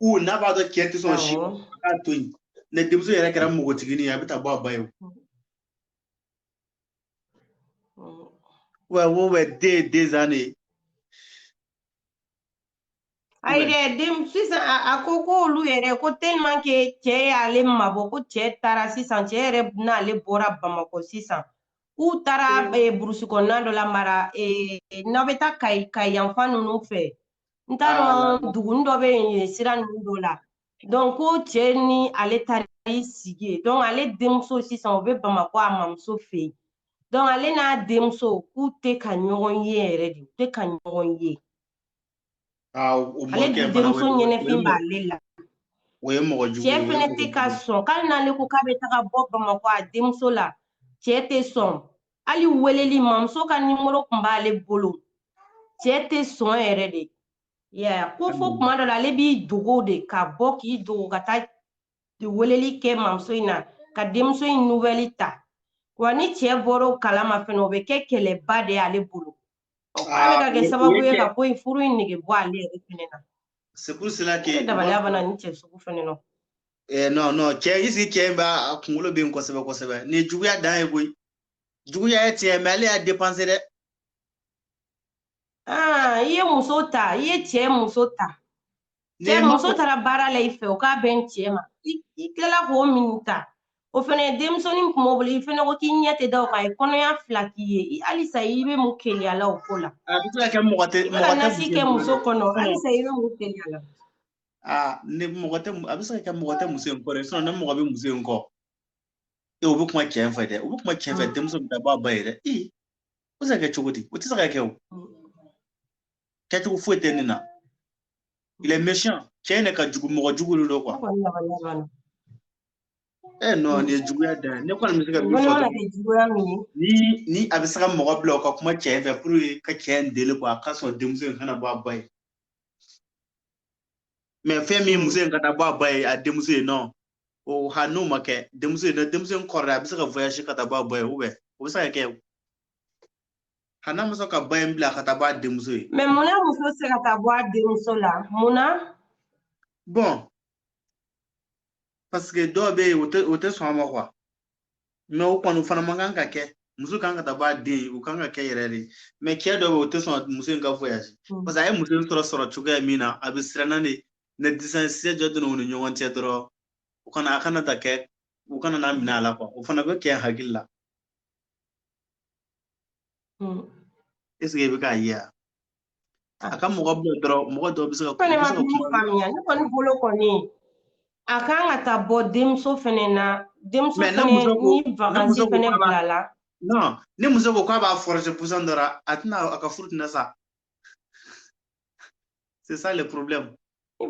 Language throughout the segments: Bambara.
u n'a b'a dɔn cɛ tɛ sɔn si k'a to yen ni denmuso yɛrɛ kɛra npogotigini ye a bɛ taa bɔ a ba ye wa wo bɛ den des années ayi dɛ den sisan a ko k'olu yɛrɛ ko tellement que cɛ y'ale mabɔ ko cɛ taara sisan cɛ yɛrɛ n'ale bɔra bamakɔ sisan k'u taara burusi kɔnɔna dɔ la mara n'aw bɛ taa kayi kayi yanfan ninnu fɛ n t'a dɔn dugunin dɔ bɛ yen yen sira ninnu dɔ la donc ko cɛ ni ale taara i sigi yen donc ale denmuso sisan o bɛ bamakɔ a mamuso fɛ yen donc ale n'a denmuso k'u tɛ ka ɲɔgɔn ye yɛrɛ de u tɛ ka ɲɔgɔn ye ale denmuso ɲɛnɛfin b'ale la o ye mɔgɔ jugu ye cɛ fɛnɛ tɛ ka sɔn k'ale n'ale ko k'a bɛ taga bɔ bamakɔ a denmuso la cɛ tɛ sɔn hali weleli mamuso ka nimoro tun b'ale bolo cɛ tɛ sɔn yɛrɛ de yaya ko fo kuma dɔ la ale b'i dogo de ka bɔ k'i dogo ka taa weleli kɛ mamuso in na ka denmuso in nouvelle ta wa ni cɛ bɔra o kalama fɛnɛ o bɛ kɛ kɛlɛba de y'ale bolo a bɛ ka kɛ sababu ye ka ko in furu in nege bɔ ale yɛrɛ fɛnɛ na c'est pour cela que dabaliya bana ni cɛ sugu fɛnɛ na eh, non non cɛ in cɛ in b'a a kunkolo bɛ yen kosɛbɛ kosɛbɛ nin ye juguya dan ye koyi juguya ye tiɲɛ mais ale y'a dépassé dɛ ah, i ye muso ta i ye cɛ muso ta cɛ muso taara baara la i fɛ o k'a bɛn cɛ ma i tilala k'o min ta o fɛnɛ denmusonin kun b'o bolo i fɛnɛ ko k'i ɲɛ tɛ da o kan a ye kɔnɔya fila k'i ye halisa i bɛ mun keleya la o ko la a bɛ se ka kɛ mɔgɔ tɛ i bɛ ka nasi kɛ muso kɔnɔ halisa i bɛ mun keleya la aa ni mɔgɔ tɛ a bɛ se ka kɛ mɔgɔ tɛ muso in kɔ dɛ sinon ni mɔgɔ bɛ muso in kɔ e o bɛ kuma cɛ in fɛ dɛ o bɛ kuma cɛ in fɛ denmuso bɛ taa bɔ a ba ye dɛ i o tɛ se ka kɛ cogo di o tɛ se ka kɛ o kɛcogo foyi tɛ nin na il est méchant cɛ in de ka jugu mɔgɔ jugu de don quoi eh non nin ye juguya dan ye ne kɔni bɛ se ka min fɔ dɔrɔn ni ni a bɛ se ka mɔgɔ bila o ka kuma cɛ in fɛ pour que ka cɛ in deli quoi a ka sɔn denmuso in ka na bɔ a ba ye mais fɛn min muso in ka taa bɔ a ba ye a denmuso ye non o ha n'o ma kɛ denmuso ye denmuso in kɔrɔla a bɛ se ka voyage ka taa bɔ a ba ye o bɛ o bɛ se ka kɛ a n'a ma sɔn ka ba in bila ka taa bɔ a denmuso ye mais mun na muso tɛ se ka taa bɔ a denmuso la mun na bon parce que dɔw bɛ yen o tɛ sɔn a ma quoi mais o kɔni fana man kan ka kɛ muso kan ka taa bɔ a den ye o kan ka kɛ yɛrɛ de mais cɛ dɔw bɛ yen o tɛ sɔn muso in ka voyage mm. parce que a ye muso in sɔrɔ sɔrɔ cogoya min na a bɛ siranna de ni distance jan donna u ni ɲɔgɔn cɛ dɔrɔn u kana a kana ta kɛ u kana n'a minɛ a la quoi o fana bɛ cɛ hakili la hmm. est-ce que i bɛ k'a ye ah. a ka mɔgɔ bila dɔrɔn mɔgɔ dɔw bɛ se ka fɛnɛ ma min faamuya ne kɔni bolo kɔni a kan ka taa bɔ denmuso fɛnɛ na denmuso fɛnɛ ni vakansi fɛnɛ bilala ni muso ko k'a b'a forcer pusan dɔ la a tɛna a ka furu tɛna sa c'est ça le problème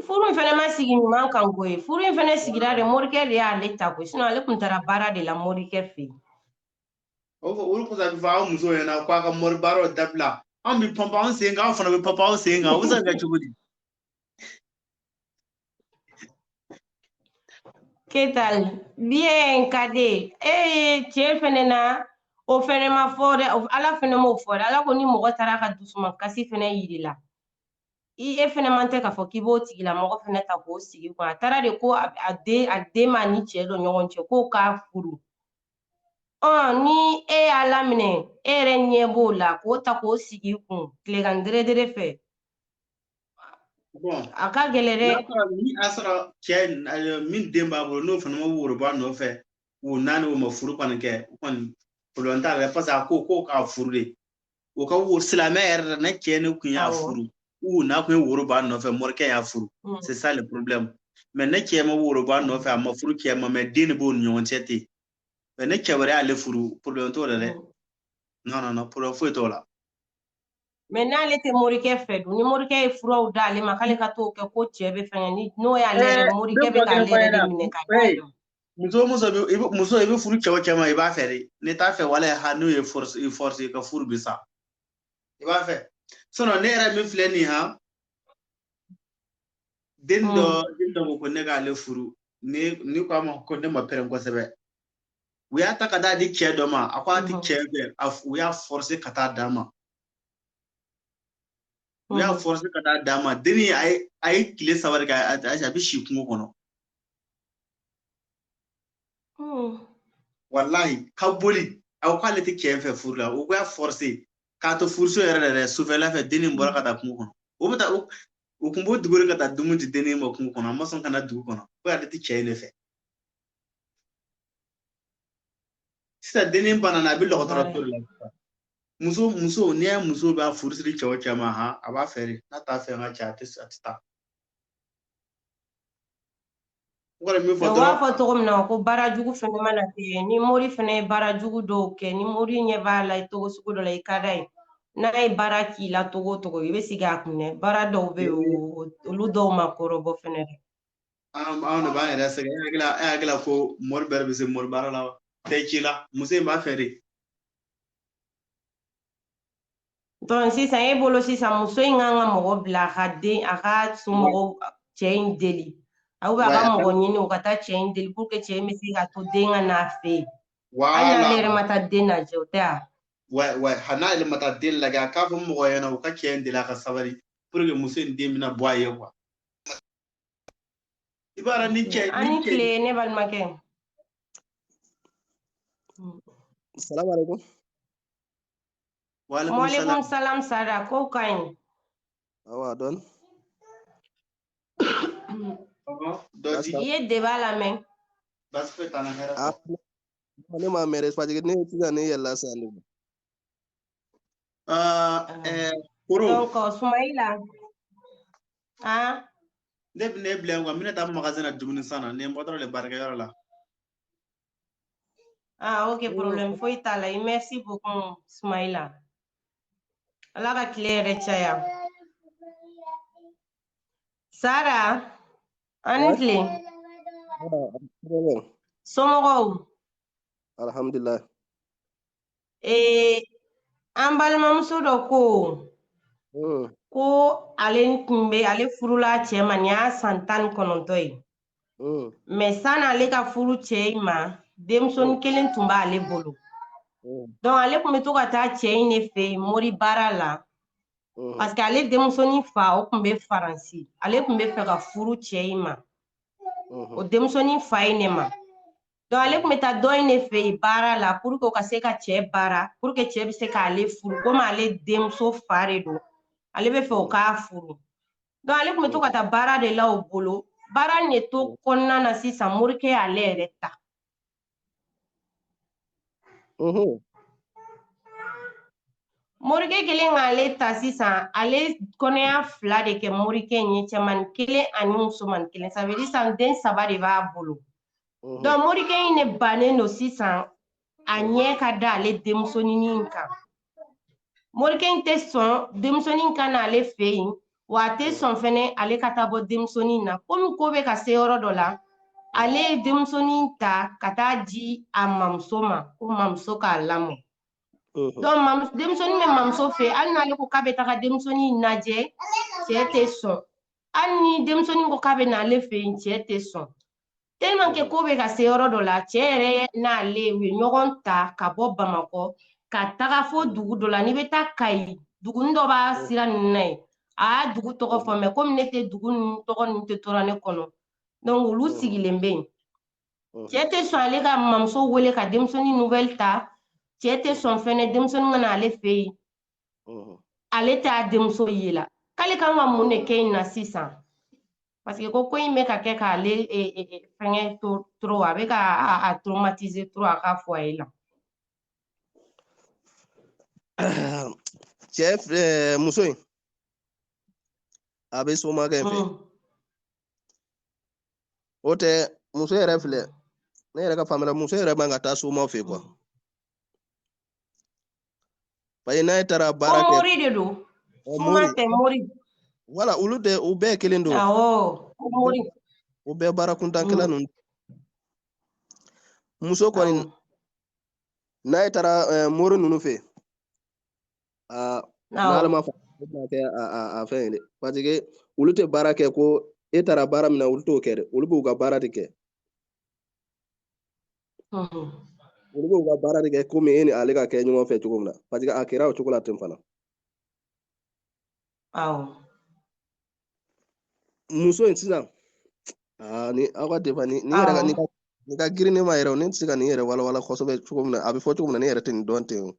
furu in fana ma sigi ɲuman kan koyi furu in fana sigira de morikɛ de y'ale ta koyi sinon ale tun taara baara de la morikɛ fɛ yen o fɔ olu kɔsɔn a bɛ fɔ aw muso ɲɛna ko a ka mori baaraw dabila anw bɛ panpan anw sen kan aw fana bɛ panpan aw sen kan o bɛ se ka kɛ cogo di ¿Qué tal? Bien, Kade. Eh, cɛ fɛnɛ na o fɛnɛ ma fɔ dɛ ala fɛnɛ m'o fɔ dɛ ala ko ni mɔgɔ taara ka dusuma kasi fɛnɛ yir'i la i e fɛnɛ man tɛ k'a fɔ k'i b'o tigilamɔgɔ fɛnɛ ta k'o sig'i kun a taara de ko a den a den b'a ni cɛ dɔ ɲɔgɔn cɛ k'o k'a furu ɔn ni e y'a laminɛ e yɛrɛ ɲɛ b'o la k'o ta k'o sig'i kun tilegan deredere fɛ a ka gɛlɛn dɛ a sɔrɔ cɛ min den b'a bolo n'o fana ma woro b'a nɔfɛ o naani o ma furu kɔni kɛ o kɔni problème t'a la parce que a ko ko k'a furu de o ka wo silamɛ yɛrɛ la ni cɛ nin kun y'a furu u n'a kun ye woro b'a nɔfɛ morikɛ y'a furu mm. c'est ça le problème mais ni cɛ ma woro b'a nɔfɛ a ma furu cɛ ma mais den de b'o ni ɲɔgɔn cɛ ten mais ni cɛ wɛrɛ y'ale furu problème t'o la dɛ mm. non non non problème foyi t'o la mais n'ale tɛ morikɛ fɛ dun ni morikɛ ye furaw d'ale ma k'ale ka t'o kɛ ko cɛ bɛ fɛngɛ ni n'o y'ale yɛrɛ eh, morikɛ bɛ k'ale yɛrɛ de minɛ ka muso muso i bɛ muso i bɛ furu cɛ o cɛ ma i b'a fɛ de n'i t'a fɛ walahi n'o y'i forcer i ka furu bi sa i b'a fɛ sinon ne yɛrɛ min filɛ nin ha den dɔ hmm. den dɔ ko ko ne k'ale furu ni ni ko a ma ko ne ma pɛrɛn kosɛbɛ u y'a ta ka t'a di cɛ dɔ ma a ko a ti cɛ fɛ u y'a forcer ka taa d'a ma u y'a forcer ka taa d'a ma denni a ye a ye tile saba de kɛ a bɛ si kungo kɔnɔ walahi ka boli a ko k'ale tɛ cɛ fɛ furu la u y'a forcer k'a to furuso yɛrɛ la dɛ sufɛla fɛ denni bɔra ka taa kungo kɔnɔ o bɛ taa u kun b'u dogo de ka taa dumuni di denni ma kungo kɔnɔ a ma sɔn ka na dugu kɔnɔ ko ale tɛ cɛ in de fɛ sisan denin banana a bɛ dɔgɔtɔrɔso la muso o muso n'i y'a muso b'a furu siri cɛ o cɛ ma ha a b'a fɛ de n'a t'a fɛ ka cɛ a tɛ a tɛ taa kɔni min fɔ dɔrɔn b'a fɔ cogo min na ko baara jugu fɛnɛ mana kɛ ni mori fɛnɛ ye baara jugu dɔw kɛ ni mori ɲɛ b'a la cogo sugu dɔ la i ka di a ye n'a ye baara k'i la cogo o cogo i bɛ sigi a kun dɛ baara dɔw bɛ yen olu dɔw ma kɔrɔbɔ fɛnɛ dɛ An de b'an yɛrɛ sɛgɛn e hakili la ko mori bɛɛ bɛ se mori baara la wa tɛ ci la muso in b'a fɛ de donc sisan e bolo sisan muso in kan ka mɔgɔ bila a ka den a ka somɔgɔw cɛ in deli aw bɛ a ka mɔgɔ ɲini u ka taa cɛ in deli pour que cɛ in bɛ se ka to den ka n'a fɛ yen hali n'ale yɛrɛ ma taa den lajɛ o tɛ wa hali n'ale ma taa den lajɛ a k'a fɔ mɔgɔ ɲɛna u ka cɛ in deli a ka sabali pour que muso in den bɛna bɔ a ye quoi i b'a dɔn ni cɛ aw ni tile ne balimakɛ salamu alaikum waalaikum salam sara kow ka ɲi awa donc i ye débat lamɛn ne m'a mɛn dɛ ne sisan ne yɛlɛla sisan ne Ah, ah. eh, koro donc sumayila ah ne bɛ ne bila yan quoi n bɛna taa magasin na dumuni san na ne bɔ dɔrɔn de baarakɛyɔrɔ la ah ok problème foyi t'a la merci beaucoup sumayila ala ka tile hɛrɛ caya sara aw ni tile somɔgɔw alhamdulilayi ee an balimamuso dɔ ko hmm. ko ale tun bɛ ale furula cɛ ma nin y'a san tan ni kɔnɔntɔn ye hmm. mais sani ale ka furu cɛ in ma denmusonin hmm. kelen tun b'ale bolo donc ale tun bɛ to ka taa cɛ in de fɛ yen mori baara la parce que ale denmusonin fa o tun bɛ faransi ale tun bɛ fɛ ka furu cɛ in ma o denmusonin fa in ne ma donc ale tun bɛ taa dɔ in de fɛ yen baara la pour que o ka se ka cɛ baara pour que cɛ bɛ se k'ale furu komi ale denmuso fa de don ale bɛ fɛ o k'a furu donc ale tun bɛ to ka taa baara de la o bolo baara in de to kɔnɔna na sisan morikɛ y'ale yɛrɛ ta morikɛ kɛlen k'ale ta sisan ale kɔnɔya fila de kɛ morikɛ in ye cɛmani kelen ani musomani kelen ça veut dire sisan den saba de b'a bolo Mhm. Donc morikɛ in ne bannen don sisan a ɲɛ ka da ale denmusonin in kan morikɛ in tɛ sɔn denmusonin ka na ale fɛ yen wa a tɛ sɔn fɛnɛ ale ka taa bɔ denmusonin na komi ko bɛ ka se yɔrɔ dɔ la ale ye denmusonin ta ka taa di a mamuso ma ko mamuso k'a lamɔ mhm. donc denmusonin bɛ mamuso fɛ hali n'ale ko k'a bɛ taga denmusonin lajɛ cɛ tɛ sɔn hali ni denmusonin ko k'a bɛ na ale fɛ yen cɛ tɛ sɔn tellement que ko bɛ ka se yɔrɔ dɔ la cɛ yɛrɛ n'ale u ye ɲɔgɔn ta ka bɔ bamakɔ ka taga fo dugu dɔ la n'i bɛ taa kayi dugunin dɔ b'a sira ninnu na yen a y'a dugu tɔgɔ fɔ mɛ komi ne tɛ dugu ninnu tɔgɔ ninnu tɛ tora ne kɔnɔ donc olu mm. sigilen bɛ yen mm. cɛ tɛ sɔn ale ka mamuso wele ka denmisɛnnin nouvelle ta cɛ tɛ sɔn fɛnɛ denmisɛnnin ka na ale fɛ yen ale t'a denmuso ye la k'ale kan ka mun de kɛ in na sisan paseke ko ko in bɛ ka kɛ k'ale e, e, e, fɛngɛ trop a bɛ ka a traumatiser trop a ka foyer la cɛ muso in a bɛ somakɛ fɛ mm. o tɛ muso yɛrɛ filɛ ne yɛrɛ ka faamuya la muso yɛrɛ man ka taa somaw fɛ kuwa mm. parce que n'a ye taara baara kɛ mori de don kuma tɛ mori wala olu de u bɛɛ kelen don awɔ mori u bɛɛ baara kuntan kelen ninnu muso kɔni n'a ye taara eh, mori ninnu fɛ aa n'ala m'a fɔ o bɛna kɛ a fɛn ye dɛ parce que olu tɛ baara kɛ ko e taara baara min na olu t'o kɛ dɛ olu b'u ka baara de kɛ olu b'u ka baara de kɛ komi e ni ale ka kɛ ɲɔgɔn fɛ cogo min na paseke a kɛra o cogo la ten fana muso in sisan ni aw ka débat nin yɛrɛ ka nin ka girin ne ma yɛrɛ ne tɛ se ka nin yɛrɛ walawala kosɛbɛ cogo min na a bɛ fɔ cogo min na ne yɛrɛ tɛ nin dɔn ten o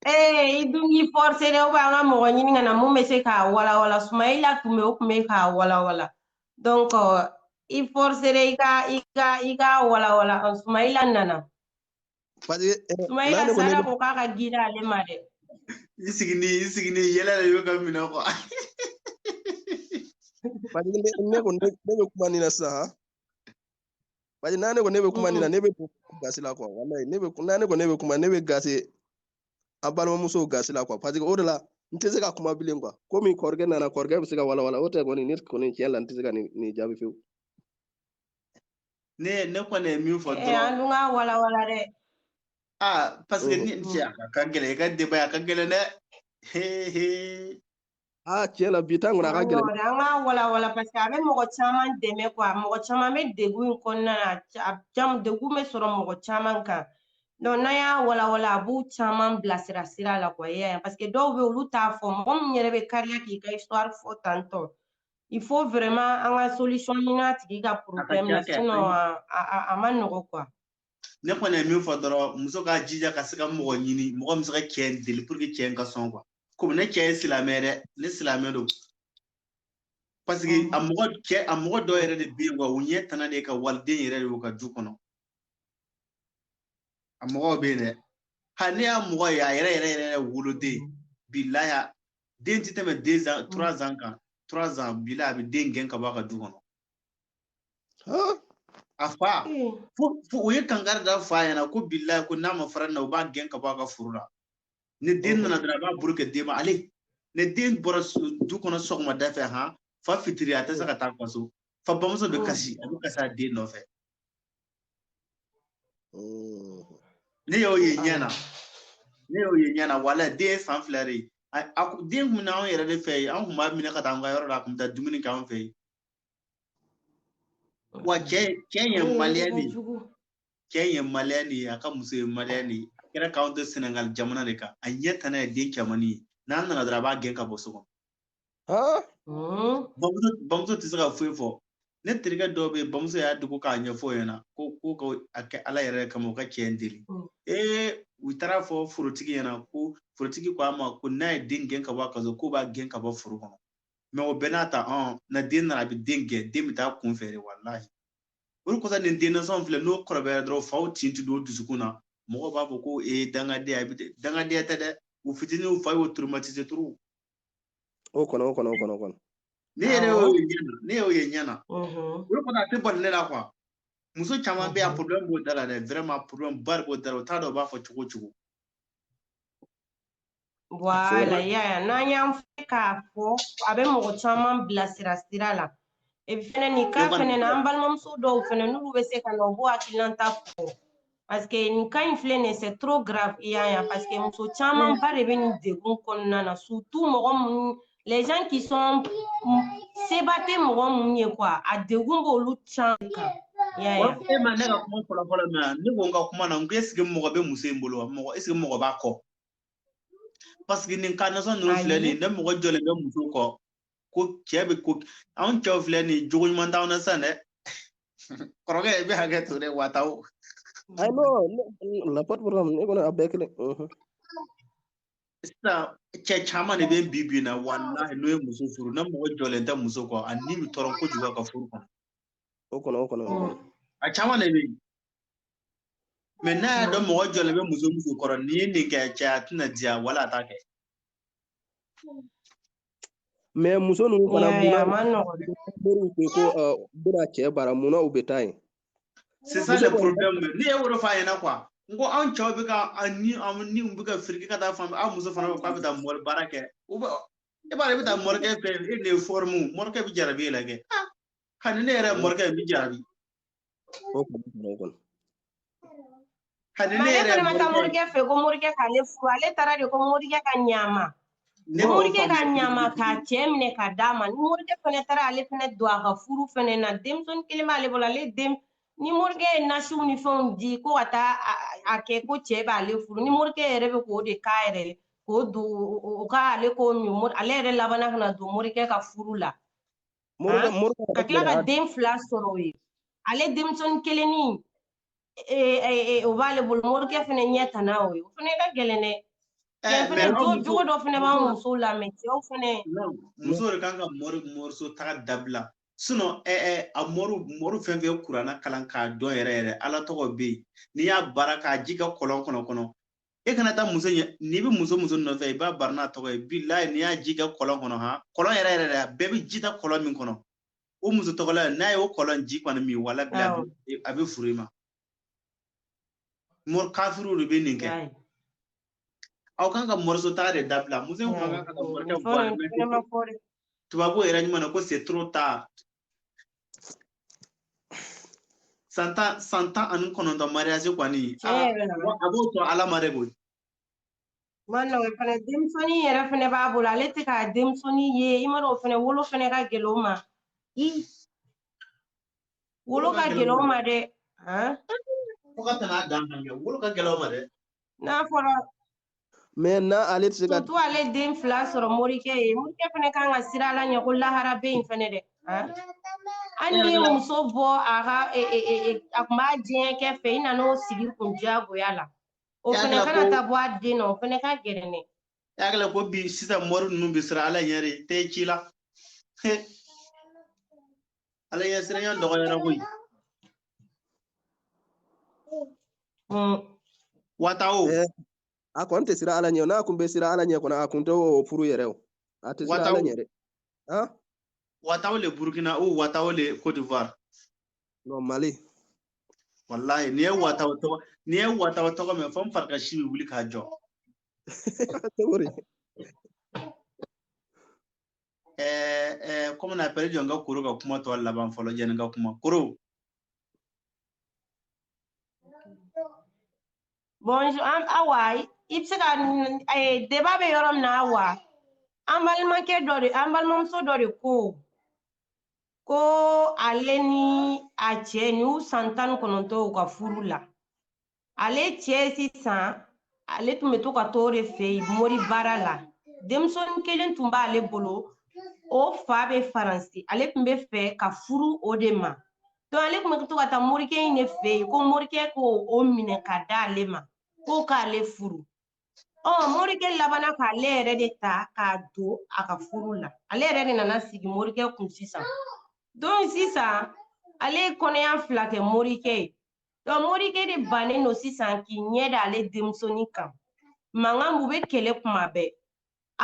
ee i dun k'i fɔrse dɛ an ka mɔgɔ ɲini ka na mun bɛ se k'a walawala sumayila tun bɛ o tun bɛ k'a walawala donc i forcer i ka i ka i k'a walawala sumayila nana sumayila sara ko k'a ka girin ale ma dɛ i sigini i sigini yɛlɛ de y'o ka minɛ kuwa parce que ne ko ne bɛ kuma nin na sisan han parce que n'a ne ko ne bɛ kuma nin na ne bɛ gasi la kuwa walayi ne bɛ n'a ne ko ne bɛ kuma ne bɛ gasi a balimamusow gasi la kuwa paseke o de la n tɛ se ka kuma bilen kuwa komi kɔrɔkɛ nana kɔrɔkɛ bɛ se k'a walawala o tɛ kɔni ne kɔni tiɲɛ la n tɛ se ka nin jaabi fewu ne ne kɔni ye min fɔ dɔrɔn an dun k'a walawala dɛ aa paseke ni cɛ a ka gɛlɛn i ka débat a ka gɛlɛn dɛ he he aa tiɲɛ la bi ta in kɔni a ka gɛlɛn Awɔ, an k'a walawala paseke a bɛ mɔgɔ caman dɛmɛ kuwa mɔgɔ caman bɛ degun in kɔnɔna na a ca- a caman degun bɛ sɔrɔ mɔgɔ caman kan donc n'an y'a walawala a b'u caman bilasira sira la kuwa i y'a ye paseke dɔw bɛ yen olu t'a fɔ mɔgɔ min yɛrɛ bɛ kariya k'i ka histoire fɔ tantɔ il faut vraiment an ka solution ɲini a tigi ka problème na kɛ, sinon a a a- a ma nɔgɔ kuwa. ne kɔni ye min fɔ dɔrɔn muso k'a jija ka se ka mɔgɔ ɲini mɔgɔ min bɛ se ka cɛ in deli puruke cɛ in ka sɔn kuwa komi ne cɛ ye silamɛ dɛ ne silamɛ don parce que a mɔgɔ cɛ a mɔgɔ dɔw yɛrɛ de bɛ yen quoi u ɲɛ tana de ka waliden yɛrɛ de y'u ka du kɔnɔ a mɔgɔw bɛ yen dɛ ha ne y'a mɔgɔ ye a yɛrɛ yɛrɛ yɛrɛ woloden bilahi den ti tɛmɛ deux ans trois ans kan trois ans bilahi a bɛ den gɛn ka bɔ a ka du kɔnɔ a fa fo o ye kankari da fa ɲɛna ko bilahi ko n'a ma fara na u b'a gɛn ka bɔ a ka foro la ni den nana dɔrɔn a b'a bolo kɛ den ma ale ni den bɔra du kɔnɔ sɔgɔmada fɛ han fa fitiri a tɛ se ka taa a ka so fa bamuso bɛ kasi a bɛ kasi a den nɔfɛ ne y'o ye ɲɛ na ne y'o ye ɲɛ na wala den ye san fila de ye a den kun na anw yɛrɛ de fɛ yen an kun b'a minɛ ka taa an ka yɔrɔ la a kun bɛ taa dumuni kɛ anw fɛ yen wa cɛ cɛ ye maliyɛn de ye cɛ ye maliyɛn de ye a ka muso ye maliyɛn de ye a kɛra k'anw to senegali jamana de kan a ɲɛ tana ye den cɛmannin ye n'a nana dɔrɔn a b'a gɛn ka bɔ so kɔnɔ bamuso tɛ se ka foyi fɔ ne terikɛ dɔw bɛ yen bamuso y'a dogo k'a ɲɛfɔ o ɲɛna ko ko ka a kɛ ala yɛrɛ kama o ka cɛ in deli ee u taara fɔ forotigi ɲɛna ko forotigi ko a ma ko n'a ye den gɛn ka bɔ a ka so k'o b'a gɛn ka bɔ foro kɔnɔ mais o bɛɛ n'a ta na den nana a bɛ den gɛn den bɛ taa kunfɛ de walahi o de kosɔn nin den nasɔnw filɛ n'o kɔrɔbayara dɔrɔn faw tin ti don dusukun na mɔgɔw b'a fɔ ko ee dangadenya bi dangadenya tɛ dɛ u fitinin u fa y'o traumatiser trop o kɔnɔ o kɔnɔ o kɔnɔ kɔnɔ ne yɛrɛ y'o ye ɲɛ na ne y'o ye ɲɛ na o de kosɔn a tɛ bali ne la quoi muso caman bɛ yan problème b'o da la dɛ vraiment problème ba de b'o da la u t'a dɔn u b'a fɔ cogo cogo Voilà, y'a ye n'an y'an fɛ k'a fɔ a bɛ mɔgɔ caman bila sira sira la e fɛnɛ nin cas fɛnɛ na an balimamuso dɔw fɛnɛ n'olu bɛ se ka na u b'u hakilinata fɔ parce que nin cas in filɛ nin c'est trop grave i y'a ye parce que muso camanba de bɛ nin degun kɔnɔna na surtout mɔgɔ minnu les gens qui sont seba tɛ mɔgɔ minnu ye quoi a degun b'olu caman kan i y'a ye e ma ne ka kuma fɔlɔ fɔlɔ mɛn ne ko n ka kuma na n ko est ce que mɔgɔ bɛ muso in bolo wa mɔgɔ est ce que mɔgɔ b'a kɔ parce que nin cas nasɔn ninnu filɛ nin ne mɔgɔ jɔlen tɛ muso kɔ ko cɛ bɛ ko anw cɛw filɛ nin jogo ɲuman t'anw na sisan dɛ kɔrɔkɛ i bɛ hakɛ to dɛ wataw ayi non y a pas problème ne kɔni a bɛɛ kelen sisan cɛ caman de bɛ bi bi in na walahi n'o ye muso furu ne mɔgɔ jɔlen tɛ muso kɔ a ni bɛ tɔɔrɔ kojugu a ka furu kɔnɔ o kɔnɔ o kɔnɔ a caman de bɛ yen mais n'a y'a dɔn mɔgɔ jɔlen bɛ muso muso kɔrɔ n'i ye nin kɛ cɛ a tɛna diya wala a t'a kɛ mais muso ninnu fana munna moriw ko ko bɛna cɛ baara munna u bɛ taa yen c'est ça le problème ne ye o de f'a ɲɛna quoi n ko anw cɛw bɛ ka ni ni u bɛ ka firiki ka taa fan aw muso fana bɛ k'a bɛ taa mɔri baara kɛ u bɛ e b'a ye i bɛ taa mɔrikɛ fɛ e de ye fɔrimu mɔrikɛ bɛ jarabi e la kɛ hali ne yɛrɛ mɔrikɛ bɛ jarabi o kun o kɔnɔ ale yɛrɛ ma taa morikɛ fɛ ko morikɛ k'ale furu ale taara de ko morikɛ ka ɲa a ma morikɛ ka ɲa a ma k'a cɛ minɛ ka d'a ma ni morikɛ fɛnɛ taara ale fɛnɛ don a ka furu fɛnɛ na denmisɛnnin kelen b'ale bolo ale den ni morikɛ ye nasiw ni fɛnw di ko ka taa a kɛ ko cɛ b'ale furu ni morikɛ yɛrɛ bɛ k'o de k'a yɛrɛ ye k'o don o ka ale k'o min ale yɛrɛ labanna ka na don morikɛ ka furu la ka tila ka den fila sɔrɔ o ye ale denmisɛnnin kelennin o b'ale bolo morikɛ fana ɲɛ tanna o ye o fana ka gɛlɛn dɛ fɛnɛ jogo dɔ fɛnɛ b'an musow la mais cɛw fɛnɛ muso de kan ka mɔri mɔriso taga dabila sinon ɛɛ a mɔru mɔru fɛn fɛn kurana kalan k'a dɔn yɛrɛ yɛrɛ ala tɔgɔ bɛ yen n'i y'a baara k'a ji kɛ kɔlɔn kɔnɔ kɔnɔ e kana taa muso ɲɛ n'i bɛ muso muso nɔfɛ i b'a baara n'a tɔgɔ ye bilahi n'i y'a ji kɛ kɔlɔn kɔnɔ han kɔlɔn yɛrɛ yɛrɛ a bɛɛ bɛ ji ta kɔlɔn min kɔnɔ o muso tɔgɔla n'a ye o kɔlɔn ji kɔni min wala bila a bɛ furu i ma mɔri kafiriw de bɛ nin kɛ aw kan ka mɔriso taga de dabila muso in kan ka mɔrikɛ bɔ tubabu yɛrɛ ɲuman na ko c'est trop tard san tan san tan ani kɔnɔntɔn mariage kɔni a b'o sɔrɔ ala ma de koyi ma nɔgɔn fana denmisɛnnin yɛrɛ fana b'a bolo ale tɛ k'a denmisɛnnin ye i ma dɔn o fana wolo fana ka gɛlɛn o ma wolo ka gɛlɛn o ma dɛ fo ka tɛmɛ a dan kan kɛ wolo ka gɛlɛn o ma dɛ n'a fɔra mais na ale tɛ se ka. surtout ale den fila sɔrɔ morikɛ ye morikɛ fana kan ka siran ala ɲɛ ko lahara bɛ yen fana dɛ. hali ni muso bɔ a ka e, e, e, a kun b'a diɲɛ kɛ fɛ i nana o sigi kun diyagoya la o fana kana taa bɔ a den na o fana ka gɛlɛn dɛ. i y'a kɛla ko bi sisan mɔri ninnu bɛ siran ala ɲɛ de tɛ ci la. ala ɲɛ siranya dɔgɔyara koyi watawo eh, a kɔni tɛ siran ala ɲɛ n'a kun bɛ siran ala ɲɛ kɔni a kun tɛ o furu yɛrɛ o a tɛ siran ala ɲɛ dɛ watawo le burkina ou watawo le côte d'ivoire non mali wallahi n'i ye watawo tɔgɔ n'i ye watawo tɔgɔ mɛn fo n fari ka si bɛ wuli ka jɔ kɔmi na pere jɔ n ka koro ka kuma tɔ laban fɔlɔ jɛni ka kuma koro bonjour an awa i bɛ se ka deba bɛ yɔrɔ min na awa an balimakɛ dɔ de an balimamuso dɔ de ko ko ale ni a cɛ n'u san tan ni kɔnɔntɔn u ka furu la ale cɛ sisan ale tun bɛ to ka t'o de fɛ yen mori baara la denmisɛnnin kelen tun b'ale bolo o fa bɛ faransi ale tun bɛ fɛ ka furu o de ma donc ale tun bɛ to ka taa morikɛ in de fɛ yen ko morikɛ k'o minɛ ka d'ale ma ko k'ale furu ɔ morikɛ labanna k'ale yɛrɛ de ta k'a don a ka furu la ale yɛrɛ de nana sigi morikɛ kun sisan donc sisan ale ye kɔnɔya fila kɛ morikɛ ye donc morikɛ de bannen don sisan k'i ɲɛ da ale denmusonin kan mankan b'u bɛ kɛlɛ kuma bɛɛ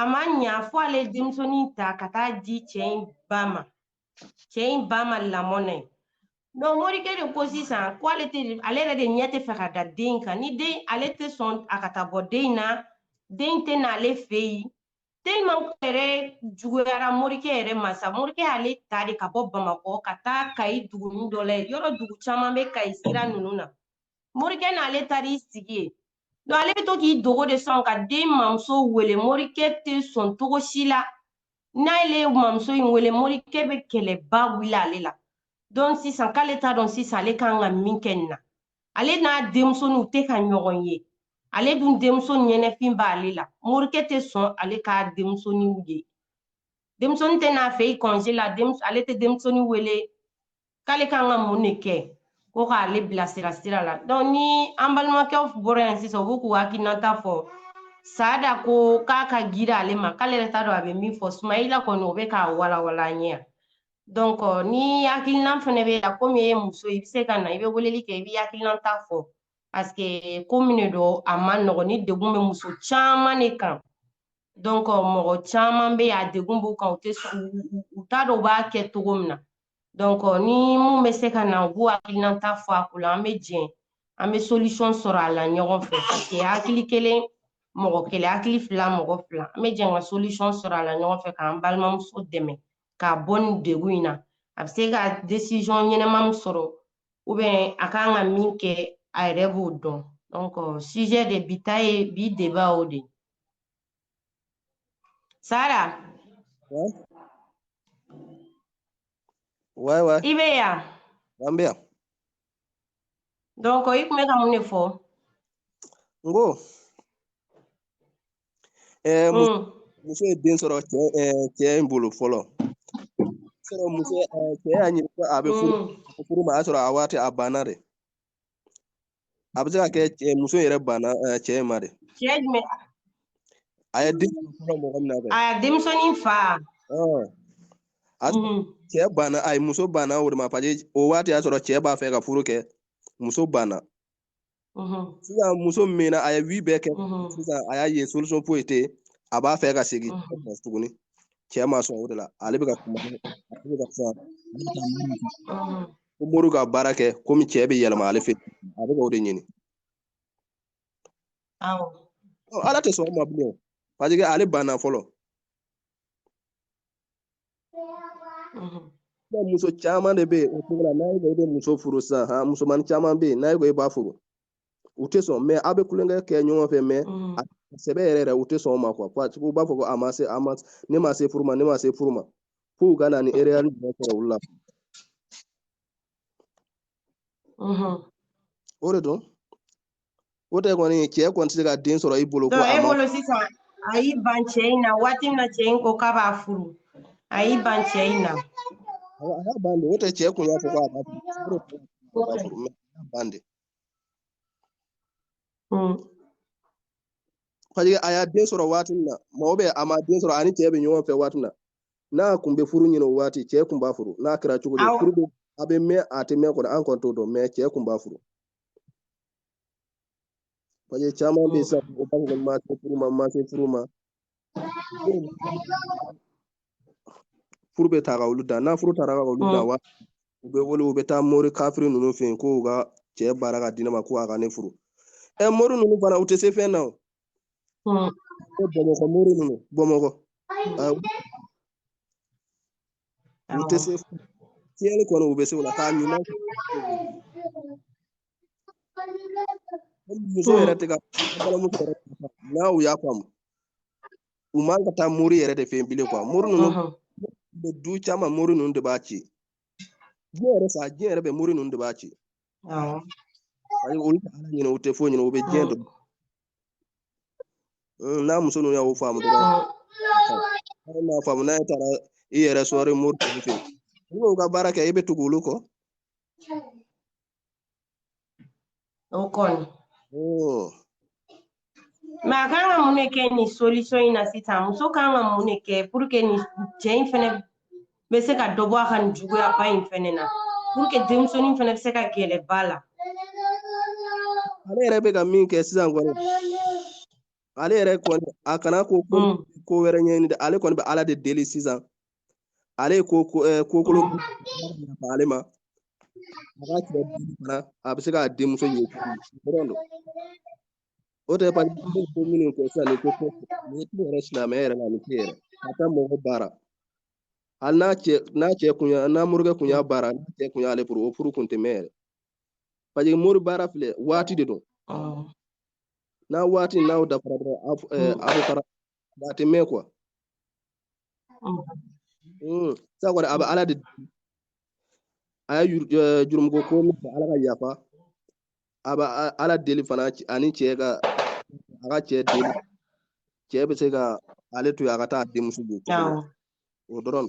a ma ɲa fo ale denmusonin ta ka taa di cɛ in ba ma cɛ in ba ma lamɔ na yen donc morikɛ de ko sisan ko ale tɛ ale yɛrɛ de ɲɛ tɛ fɛ ka da den kan ni den ale tɛ sɔn a ka taa bɔ den in na den tɛ n'ale fɛ yen tellement ko yɛrɛ juguyara morikɛ yɛrɛ ma sa morikɛ y'ale ta de ka bɔ bamakɔ ka taa kayi dugunin dɔ la yɔrɔ dugu caman bɛ kayi sira ninnu na morikɛ n'ale taar'i sigi yen donc ale bɛ to k'i dogo de sa ka den mamuso wele morikɛ tɛ sɔn cogo si la n'ale ye mamuso in wele morikɛ bɛ kɛlɛba wuli ale la donc sisan k'ale t'a dɔn sisan ale kan ka min kɛ nin na ale n'a denmusoninw tɛ ka ɲɔgɔn ye ale dun denmuso ɲɛnɛfin b'ale la morikɛ tɛ sɔn ale ka denmusoninw ye denmusonin tɛ n'a fɛ yen kɔnze la ale tɛ denmusonin wele k'ale kan ka mun de kɛ ko k'ale bilasira sira la dɔnku ni an balimakɛw bɔra yan sisan u b'u k'u hakilinata fɔ saada ko k'a ka girin ale ma k'ale yɛrɛ t'a dɔn a bɛ min fɔ sumayila kɔni o bɛ k'a walawala an ɲɛ yan Donc, euh, ni hakilinan fana b'e la komi e ye muso i bɛ se ka na i bɛ weleli kɛ i bɛ hakilinan ta fɔ parce que ko min de don a man nɔgɔn nin degun bɛ muso caman de kan donc mɔgɔ caman bɛ yen a degun b'u kan u tɛ u t'a dɔn u b'a kɛ cogo min na donc ni min bɛ se ka na u b'u hakilinan ta fɔ a ko la an bɛ jɛn an bɛ solution sɔrɔ a la ɲɔgɔn fɛ parce que hakili kelen mɔgɔ kelen hakili fila mɔgɔ fila an bɛ jɛn ka solution sɔrɔ a la ɲɔgɔn fɛ k'an balimamuso dɛmɛ. ka bɔ nin degun in na a bɛ se ka desizɔn ɲɛnama min sɔrɔ ubiyɛn a kan ka min kɛ a yɛrɛ b'o dɔn dɔnkɔ sujet de bi ta ye bi deba o de sara i bɛ yan an bɛ yan donc i tun bɛ ka mun de fɔ n ko ɛɛ hmm. muso ye den sɔrɔ cɛ cɛ in bolo fɔlɔ sɔrɔ muso cɛ y'a ɲini ko a bɛ furu hmm. furu ma a y'a sɔrɔ a waati a banna de a bɛ se ka kɛ muso yɛrɛ banna cɛ in ma de cɛ jumɛn a ye den sɔrɔ mɔgɔ min na kɛ a ye denmisɛnnin fa a cɛ banna a ye muso banna o de ma parce que o waati y'a sɔrɔ cɛ b'a fɛ ka furu kɛ muso banna sisan muso min na a ye vie bɛɛ kɛ sisan a y'a ye solution foyi tɛ a b'a fɛ ka segin tuguni cɛ ma sɔn o de la ale bɛ ka kuma ale bɛ ka fɛn ko mori ka baara kɛ komi cɛ bɛ yɛlɛma ale fɛ a bɛ ka o de ɲini awɔ ɔ ala tɛ sɔn o ma bilen o parce que ale banna fɔlɔ mhm. muso caman de bɛ yen o cogo la n'a ye ko i bɛ muso furu sisan han musomanin caman bɛ yen n'a ye ko i b'a furu u tɛ sɔn mais aw bɛ tulonkɛ kɛ ɲɔgɔn fɛ mais mhm. a sɛbɛ yɛrɛ yɛrɛ u tɛ sɔn o ma quoi parce que u b'a fɔ ko a ma se a ma ne ma se furu ma ne ma se furu ma f'u ka na ni erreur jumɛn sɔrɔ olu la o de don o tɛ kɔni cɛ kɔni tɛ se ka den sɔrɔ i bolo. ko e bolo sisan a y'i ban cɛ in na waati min na cɛ in ko k'a b'a furu a y'i ban cɛ in na. a y'a ban de o tɛ cɛ kun y'a fɔ k'a b'a furu a y'a ban de. parce que a y'a den sɔrɔ waati min na mɔgɔ bɛ a ma den sɔrɔ a ni cɛ bɛ ɲɔgɔn fɛ waati min na n'a kun bɛ furu ɲini o waati cɛ kun b'a furu n'a kɛra cogo di furu bɛ a bɛ mɛn a tɛ mɛn kɔni an kɔni t'o dɔn mais cɛ kun b'a furu parce que caman bɛ yen sisan u b'a fɔ ko ma se furu ma ma se furu ma furu bɛ taa ka olu dan n'a furu taara ka olu dan wa u bɛ wuli u bɛ taa mori kafiri ninnu fɛ yen k'u ka cɛ baara ka di ne ma ko a ka ne furu ɛ mori ninnu fana u tɛ se fɛn na o Bon. Ko Bamakɔ mori ninnu Bamakɔ. Awɔ. U tɛ se tiɲɛni kɔni u bɛ se o la k'a ɲuman kɛ. Hali muso yɛrɛ tɛ ka balimamuso yɛrɛ tɛ ka n'a u y'a faamu u man ka taa mori yɛrɛ de fɛ yen bilen mori ninnu Ɔhɔn. bɛ du caman mori ninnu de b'a ci diɲɛ yɛrɛ sa diɲɛ yɛrɛ bɛɛ mori ninnu de b'a ci Awɔ. Ayi olu tɛ Ala ɲini u tɛ foyi ɲini u bɛ diɲɛ Awɔ. dɔn. Un, N'a muso ninnu y'o faamu dɔrɔn Awɔ. hali n'a faamu n'a ye taara i yɛrɛ sɔrɔ i mori tɔw fɛ yen i b'u ka baara kɛ i bɛ tugu olu kɔ. O kɔni. Ɔɔ. mais a kan ka mun de kɛ nin solution in na sisan muso kan ka mun de kɛ pour que nin cɛ in fɛnɛ bɛ se ka dɔ bɔ a ka nin juguyaba in fɛnɛ na pour que denmisɛnnin fɛnɛ bɛ se ka gɛrɛ ba la ale yɛrɛ bɛ ka min kɛ sisan kɔni ale yɛrɛ kɔni a kana ko ko wɛrɛ ɲɛɲini dɛ ale kɔni bɛ ala de deli sisan ale ye ko kokolo ale ma a ka cɛ fana a bɛ se k'a denmuso ye dɔrɔn don o tɛ pa ko minnu kɛ sisan ni ko ni tɛ yɛrɛ silamɛya yɛrɛ la ni tɛ yɛrɛ a ka mɔgɔ baara hali n'a cɛ n'a cɛ kun y'a n'a morikɛ kun y'a baara n'a cɛ kun y'ale furu o furu kun tɛ mɛɛn yɛrɛ parce que mori baara filɛ waati de don n'a waati n'aw dafara dɔrɔn aw bɛ fara a tɛ mɛɛn quoi hmm, sisan kɔni a bɛ ala deli a ye eh, jurumuko ko ala ka yafa a bɛ ala deli fana ani cɛ ka a ka cɛ deli cɛ bɛ se ka ale to yen a ka taa denmuso bɔ o dɔrɔn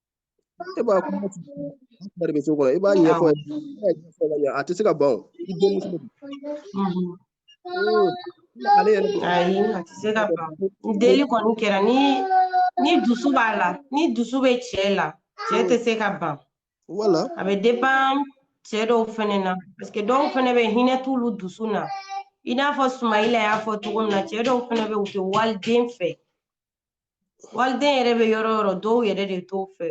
e b'a kuma bari bɛ so kɔrɔ i b'a ɲɛfɔ ye a tɛ se ka ban o i denmuso ale yɛrɛ ayi a tɛ se ka ban deli kɔni kɛra ni ni dusu b'a la ni dusu bɛ cɛ la cɛ tɛ se ka ban wala a bɛ dépend cɛ dɔw fɛnɛ na parce que dɔw fɛnɛ bɛ hinɛ t'olu dusu na i n'a fɔ sumayila y'a fɔ cogo min na cɛ dɔw fɛnɛ bɛ u tɛ waliden fɛ waliden yɛrɛ bɛ yɔrɔ yɔrɔ dɔw yɛrɛ de t'o fɛ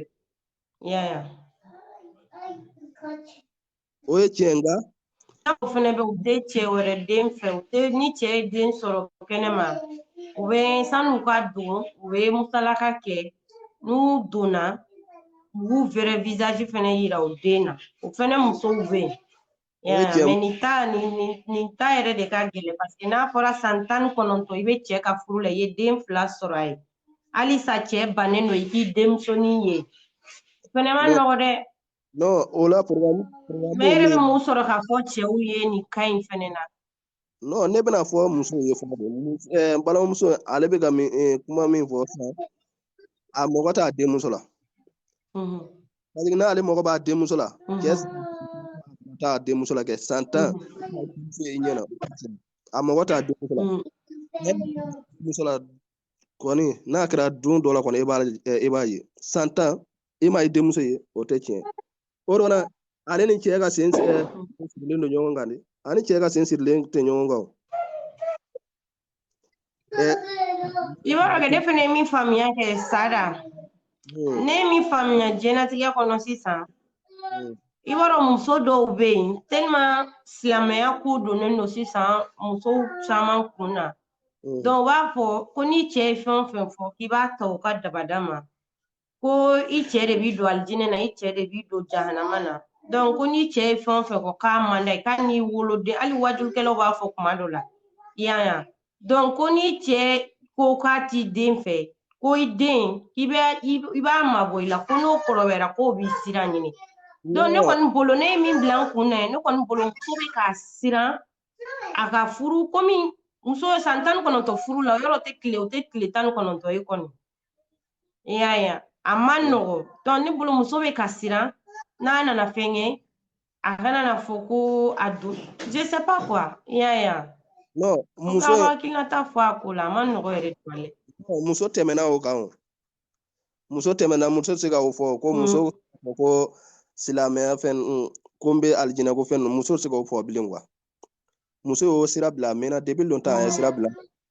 i y'a ye o ye tiɲɛ nka dɔw fɛnɛ bɛ u tɛ cɛ wɛrɛ den fɛ u tɛ ni cɛ ye den sɔrɔ kɛnɛma u bɛ san'u ka don u bɛ musalaka kɛ n'u donna u b'u vrai visage fɛnɛ yira u den na o fɛnɛ musow bɛ yen Yeah, mais nin ta nin nin nin ta yɛrɛ de ka gɛlɛn parce que n'a fɔra san tan ni kɔnɔntɔn i bɛ cɛ ka furu la i ye den fila sɔrɔ a ye halisa cɛ bannen don i k'i denmusonin ye o fɛnɛ ma nɔgɔ dɛ non o la problème mais e yɛrɛ bɛ mun sɔrɔ k'a fɔ cɛw ye nin ka ɲi fɛnɛ na non ne bɛna fɔ muso ye fɔlɔ de ɛɛ n balimamuso ale bɛ ka min eh, kuma min fɔ sisan a mago t'a denmuso la Mhm. parce que n'ale mago b'a denmuso la Mhm. cɛ t'a denmuso la kɛ san tan muso ye ɲɛna a mago t'a denmuso la Mhm. denmuso la kɔni n'a kɛra don dɔ la kɔni e b'a eh, e b'a ye san tan i ma i denmuso ye o tɛ tiɲɛ o dɔn na ale ni cɛ ka sen sirilen don ɲɔgɔn kan de ani cɛ ka sen sirilen tɛ ɲɔgɔn kan i b'a dɔn kɛ ne fana ye min faamuya kɛ sada hmm. ne ye min faamuya diɲɛlatigɛ kɔnɔ sisan hmm. i b'a dɔn muso dɔw bɛ yen tellement silamɛya ko donnen don sisan musow caman kun na hmm. donc u b'a fɔ ko ni cɛ ye fɛn o fɛn fɔ k'i b'a ta u ka dabada ma ko i cɛ de b'i don alijinɛ na i cɛ de b'i don jahanama na donc ko n'i cɛ ye fɛn o fɛn fɔ k'a man d'a ye k'a n'i woloden hali wajukɛlaw b'a fɔ kuma dɔ la i y'a ye donc ko n'i cɛ ko k'a t'i den fɛ ko i den i bɛ i b'a mabɔ i la ko n'o kɔrɔbayara k'o b'i sira ɲini donc ne kɔni bolo ne ye min bila n kun na ye ne kɔni bolo muso bɛ ka siran a ka furu komi muso san tan ni kɔnɔntɔn furu la yɔrɔ tɛ tile o tɛ tile tan ni kɔnɔntɔn ye kɔni i y'a ye a man nɔgɔ donc ne bolo muso bɛ ka siran n'a nana fɛn kɛ a kana na fɔ ko a don je sais pas quoi i y'a ye non muso ka hakilinata fɔ a ko la a man nɔgɔ yɛrɛ tuma lɛ muso tɛmɛna o kan o muso tɛmɛna muso tɛ se ka o fɔ ko mm. muso ko silamɛya fɛn ko n bɛ alijinɛ ko fɛn ninnu muso tɛ se k'o fɔ bilen quoi muso y'o sira bila a mɛnna depuis longtemps a ye sira bila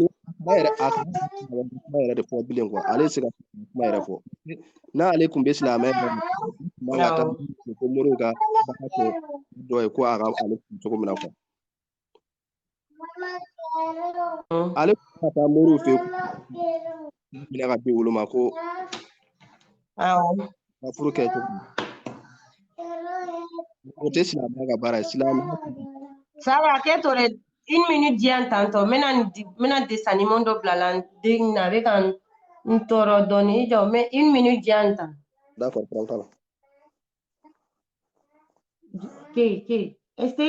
ni kuma yɛrɛ a kun kuma yɛrɛ de fɔ bilen quoi ale se ka kuma yɛrɛ fɔ n'ale kun bɛ silamɛ kuma ka taa ko mori ka baara kɛ dɔ ye ko a ka ale kun cogo min na quoi ale kun ka taa mori fɛ minɛ ka di olu ma ko awɔ ka furu kɛ cogo min. o tɛ silamɛya ka baara ye silamɛya Sada k'e to dɛ une minute di yan tantɔ n bɛna nin di- n bɛna dessin animé dɔ bila la n den na a bɛ ka n n tɔɔrɔ dɔɔnin i jɔ mɛ une minute di yan tan d'accord problème t'a la ke ke ese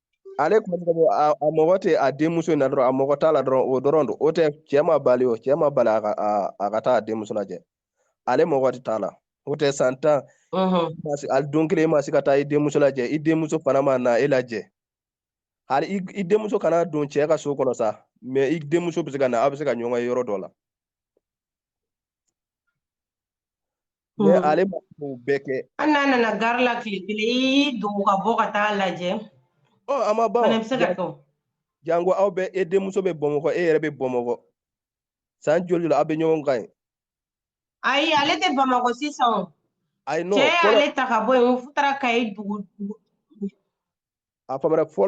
ale kuma a mago tɛ a denmuso in na dɔrɔn a mago t'a la dɔrɔn o dɔrɔn don o tɛ cɛ ma bali o cɛ ma bali a ka a ka taa a denmuso lajɛ ale mago tɛ t'a la o tɛ san tan a don kelen ma se ka taa i denmuso lajɛ i denmuso fana ma na e lajɛ hali i denmuso kana don cɛ ka so kɔnɔ sa mais i denmuso bɛ se ka na aw bɛ se ka ɲɔgɔn ye yɔrɔ dɔ la Mais mm. ale ma o bɛɛ kɛ. Hali n'a nana gari la tile kelen i y'i dogo ka bɔ ka taa lajɛ. Ɔ a ma ban. Fana bɛ se ka kɛ o. Jango aw bɛ e denmuso bɛ Bamakɔ e yɛrɛ bɛ Bamakɔ san joli la aw bɛ ɲɔgɔn kan yen. Ayi ale tɛ Bamakɔ sisan o. Ayi non. Cɛ y'ale ta ka bɔ yen u taara Kayi dugu. A faamana fɔlɔ.